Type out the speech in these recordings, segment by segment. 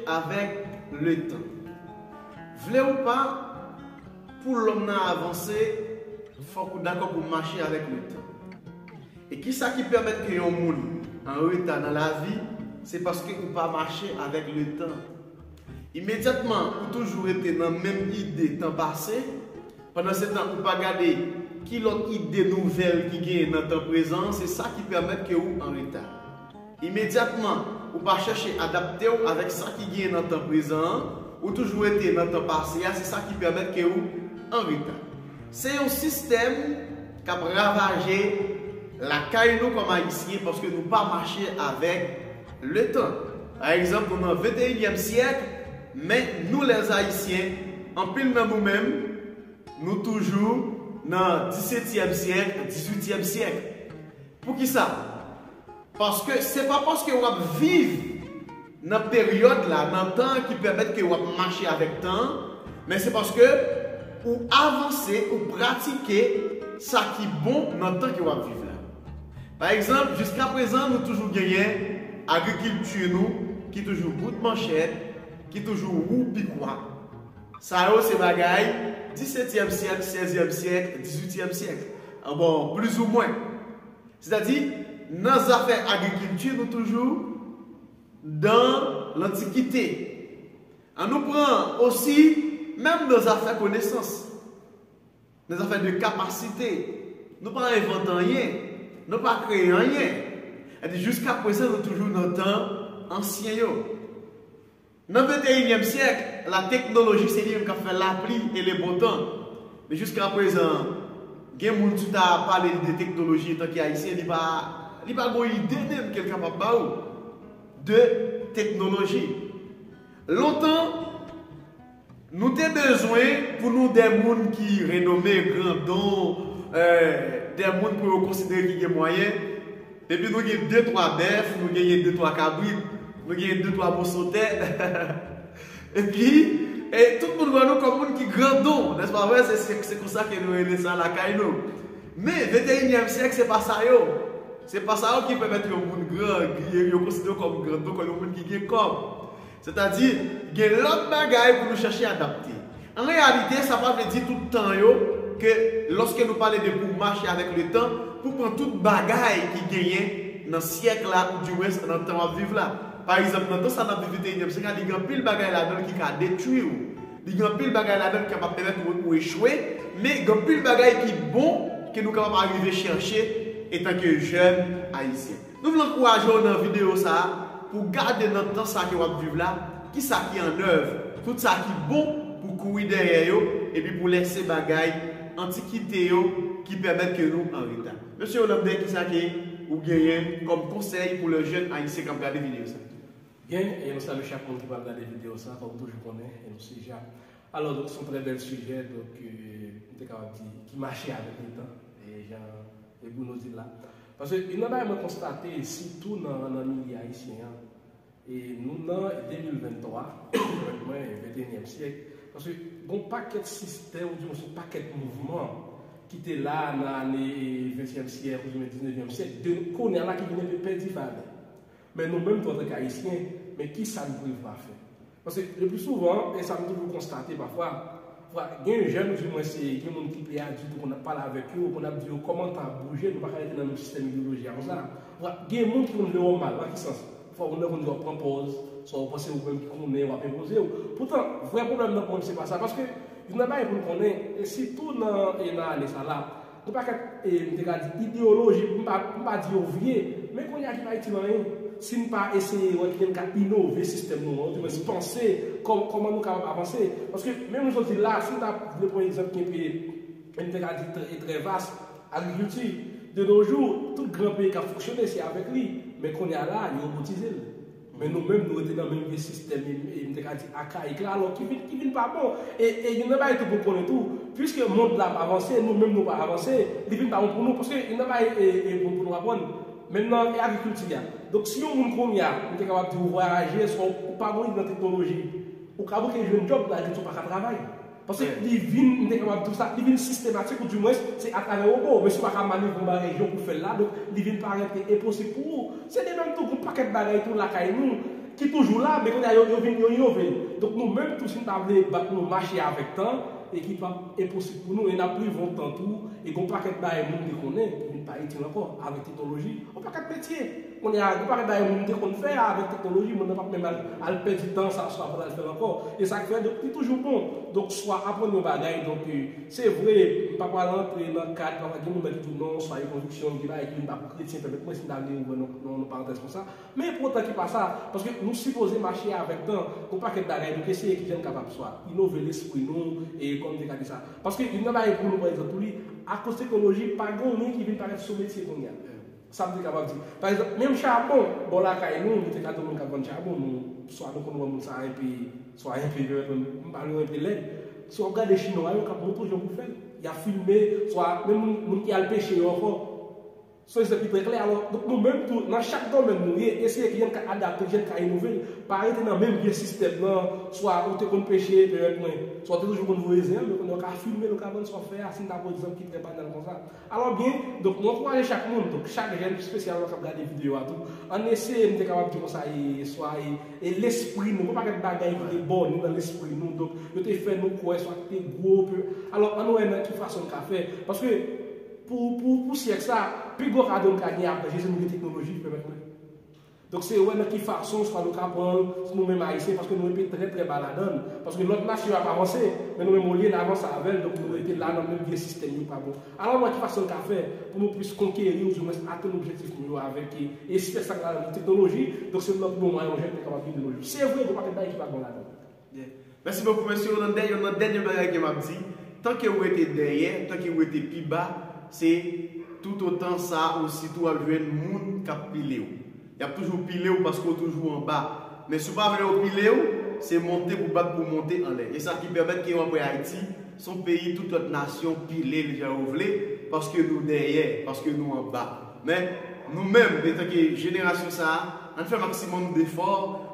avèk letan. Vle ou pa, pou lòm nan avanse, fòk ou dakò pou mache avèk letan. E kisa ki pèmèt ke yon moun anreta nan lavi, se paske ou pa mache avèk letan. Imedyatman ou toujou rete nan menm ide tan pase, pandansetan ou pa gade ki lòt ide nouvèl ki genyen nan tan prezan, se sa ki pèmèt ke ou anreta. Imedyatman, ou pa chèche adapte w avèk sa ki genyen nan tan prezan an, ou toujou rete nan tan pase a se sa ki pèmèt ke ou anreta. Se yon sistèm k ap ravaje lakay nou kòm Ayisyen paske nou pa mache avèk letan. Pa egzanp nou nan venteyinyèm syèk men nou lèz Ayisyen anpil nan nou menm nou toujou nan disetyèm syèk, dizuityèm syèk. Poukisa? Paske se pa paske w ap viv nan peryòd la, nan tan an ki pèmèt ke w ap mache avèk tan an, men se paske ou avanse, ou pratike sa ki bon nan tan ke w ap viv la. Pa egzanp, jiska prezan nou toujou genyen agrikilti nou ki toujou bout manchèt, ki toujou wou pikwa. Sa yo se bagay disetyèm syèk, sèzyèm syèk, dizuityèm syèk. Bon, plizoumwen. Sètadi, nan zafè agrikilti nou toujou dan lantikite. An nou pran osi, menm nan zafè konesans, nan zafè de kapasite, nou pa envante anyen, nou pa kreye anyen. Sètadi, jiskaprezan nou toujou nan tan ansyen yo. Nan venteyinyèm syèk, lateknoloji se li menm k ap fè lapli e lebontan. Men jiskaprezan, gen moun si w ta pale li de teknoloji etan ki Ayisyen, li pa li pa gon ide menm ke l kapab ba ou de teknoloji. Lontan. Nou te bezwen pou nou de moun ki renome, grandon, de moun pou yo konsidere ki gen mwayen, epi nou gen de twa bèf, nou genyen de twa kabrit, nou genyen de twa moso tè, epi tout moun wè nou kòm moun ki grandon, nèspa vre? Se konsa ke nou rele sa lakay nou. Men, venteyinyèm syèk se pa sa yo. Se pa sa yo ki pèmèt yon moun gran, yo konsidere yo kòm grandon, kòm yon moun ki gen kòb. Sètadi, gen lòt bagay pou nou chèche adapte. An reyalite, sa pa vle di tout tan yo ke lòske nou pale de pou mache avèk letan, pou pran tout bagay ki genyen nan syèk la oudiwens nan tan w ap viv la. Pa egzanp, nan tan sa n ap viv viteyinyèm syèk la, li gen anpil bagay ladan l ki ka detwi ou. Li gen anpil bagay ladan l ki kapab pèmèt ou echwe, men gen anpil bagay ki bon ke nou kapab arive chèche etanke jèn Ayisyen. Nou vle ankouraje w nan videyo sa a pou w gade nan tan sa ke w ap viv la kisa ki an nèv, tout sa ki bon pou w kouri dèyè yo epi pou w lèse bagay antikite yo ki pèmèt ke nou an reta. Mesye Hollandais kisa ke ou genyen kòm konsèy pou lè jèn ayisyen k ap gade videyo sa? Byen, e nou salye chak moun ki pral gade videyo sa a, kòm toujou konnen e nou se ja. Alò donk se yon trè bèl sijè donk m te kapab di ki mache avèk letan e jan e Bruno di l la. Paske youn nan bagay mwen konstate sitou nan nan milye ayisyen an, e nou nan 2023, konprann mwen, ventenyèm syèk, paske gon pakèt sistèm oubyen sou pakèt mouvman ki te la nan ane ventyèm syèk oubyen diznevyèm syèk de kounya la ki vin enpe pèdi valè. Men nou menm tou antanke ayisyen, men kisa nou prevwa fè? Paske le plus souvan, e sa m toujou konstate pafwa, pafwa gen jèn ou di mwen se gen moun ki pi adilt ou konn ap pale avèk yo, ou konn ap di yo kòman tan ap bouje, nou pa ka rete nan menm sistèm ideyoloji a konsa. Pafwa gen moun ki konn vle wè w mal, nan ki sans? Pafwa moun nan konn di w ap pran pòz, sa w panse ou menm ki konnen, w ap enpoze w. Poutan, vrè pwoblèm nan pou mwen se pa sa. Paske, youn nan bagay pou n konnen, e sitou nan e nan ane sa la, Yon pakèt, m te ka di, ideyoloji, pou m pa di yo vye, men kounye a ki pa itil anyen, si n pa eseye wè ki jan n ka inove sistèm nou an, oudimwens panse kòman nou kapab avanse. Paske, menm jodi la, si m ta vle pran yon egzanp ki enpe, m te ka di, e trè vas, agrikilti. De no jou, tout gran peyi k ap fonksyone, se avèk li. Men kounye a la, yo robotize l. Men nou menm nou rete nan menm vye sistèm e m te ka di akayik la alò ki vin ki vin pa bon. E e youn nan bagay tou pou n konnen tou, puiske mond la ap avanse, nou menm nou pa avanse, li vin pa bon pou nou. Paske youn nan bagay e e pou pou nou aprann, menm nan e agrikilti a, donk si yon moun kounye a m te kapab di ou vwayaje, swa ou pa gon ide nan teknoloji, ou ka bouke jwenn djòb nan agrikilti ou pa ka travay. Paske li vin, m te kapab di w sa, li vin sistematik ou di mwens se atravè wobo. Mesye w pa ka manevre yon bagay jan w pou fè l la, donk li vin parèt enposib pou ou. Se de menm tou pou yon pakèt bagay tou lakay nou ki toujou la, men kounye a yo vin yo inove l. Donk nou menm tou si n ta vle bat nou mache avèk tan e ki p ap enposib pou nou e n ap rive yon tan tou e gen yon pakèt bagay moun te konnen ki vin pa itil ankò avèk teknoloji, yon pakèt metye. Kounye a, yo pa ka bay moun te konn fè a avèk teknoloji, moun nan pap menm al pèdi tan sa swa pou l al fè l ankò. E sa k fè, donk li toujou bon, donk swa aprann yon bagay, donk se vre, m pa pral antre nan kad, pafwa gen moun nan ki di w non, swa yon konviksyon m te bay ki m pa p kretyen, pèmèt mwen si m ta vle ouvè yon parantèz konsa, men pou otan ki pa sa, paske nou sipoze mache avèk tan, gon pakèt bagay nou k eseye kijan n kapab swa inove lespri nou, e kòm m te ka di sa. Paske youn nan bagay pou nou pran egzanp pou li, akoz teknoloji pa gen anyen ki vin parèt sou metye kounye a. Sa m te kapab di? Pa egzanp, menm chabon, bò lakay nou, nou te ka di yon moun k ap vann chabon, nou, swa nou konn wè moun sa a enpe, swa enpe lèd, menm, m pa di w enpe lèd. Si w ap gade chinwa yo k ap montre w jan pou fè l, y ap filme, swa menm moun, moun ki al peche yo ankò. Se yon egzanp ki trè klè. Alò, donk nou menm tou, nan chak domèn nou ye, eseye ki jan n ka adapte, ki jan n ka inove l. Pa rete nan menm vye sistèm nan, swa ou te konn peche, pèmèt mwen, swa ou te toujou konn voye zen an, men kounye a w ka filme l, ou ka vann sa w fè a, si n ta pran egzanp ki trè banal konsa. Alò byen, donk m ankouraje chak moun, donk chak jèn pi spesyalman k ap gade videyo a tou, ann eseye, m te kapab di konsa, e swa e e lespri nou, gon pakèt bagay ki te bon ni nan lespri nou, donk yo te fè nou kwè swa ki te gwo ke, alò ann wè nan ki fason n ka fè, paske pou pou pou syèk sa, pi gwo kado m ka gen apre Jezi m gen teknoloji ki pèmèt mwen. Donk se wè nan ki fason swa nou ka pran l sou nou menm Ayisyen paske nou enpe trè trè ba ladan l. Paske lòt nasyon yo ap avanse, men nou menm olye n avanse avè l donk nou rete la nan menm vye sistèm yo pa bon. Alò wè ki fason n ka fè pou nou plis konkeri oudiwens atenn objektif nou yo avèk espès sa k ladan l, teknoloji. Donk se lòt bon mwayen yon jèn te kapab vin de no jou. Se vre gen yon pakèt bagay ki pa bon ladan l. Mèsi bokou mesye yo nan dèyè nan dènye bagay ke map di tanke ou rete dèyè tanke ou rete pi ba se tout otan sa ositou wap jwenn moun kap pilew yap toujou pilew paske ou toujou anba men si ou pa vle yo pilew se monte pou bat pou monte anlè esa ki pèmèt ke wap wè ayiti son peyi tout lòt nasyon pilel jan yo vle paske nou dèyè paske nou anba. Men, nou menm, etanke jenerasyon sa a, ann fè maksimòm n efò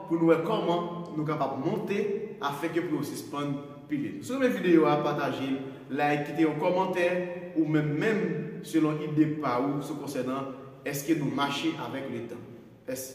pou n wè kòman nou kapab monte afenke pri yo sispann pile. Si w renmen videyo a, pataje l, like, kite yon kòmantè ou menm menm selon ide pa ou sou konsènan èske nou mache avèk letan. Mèsi.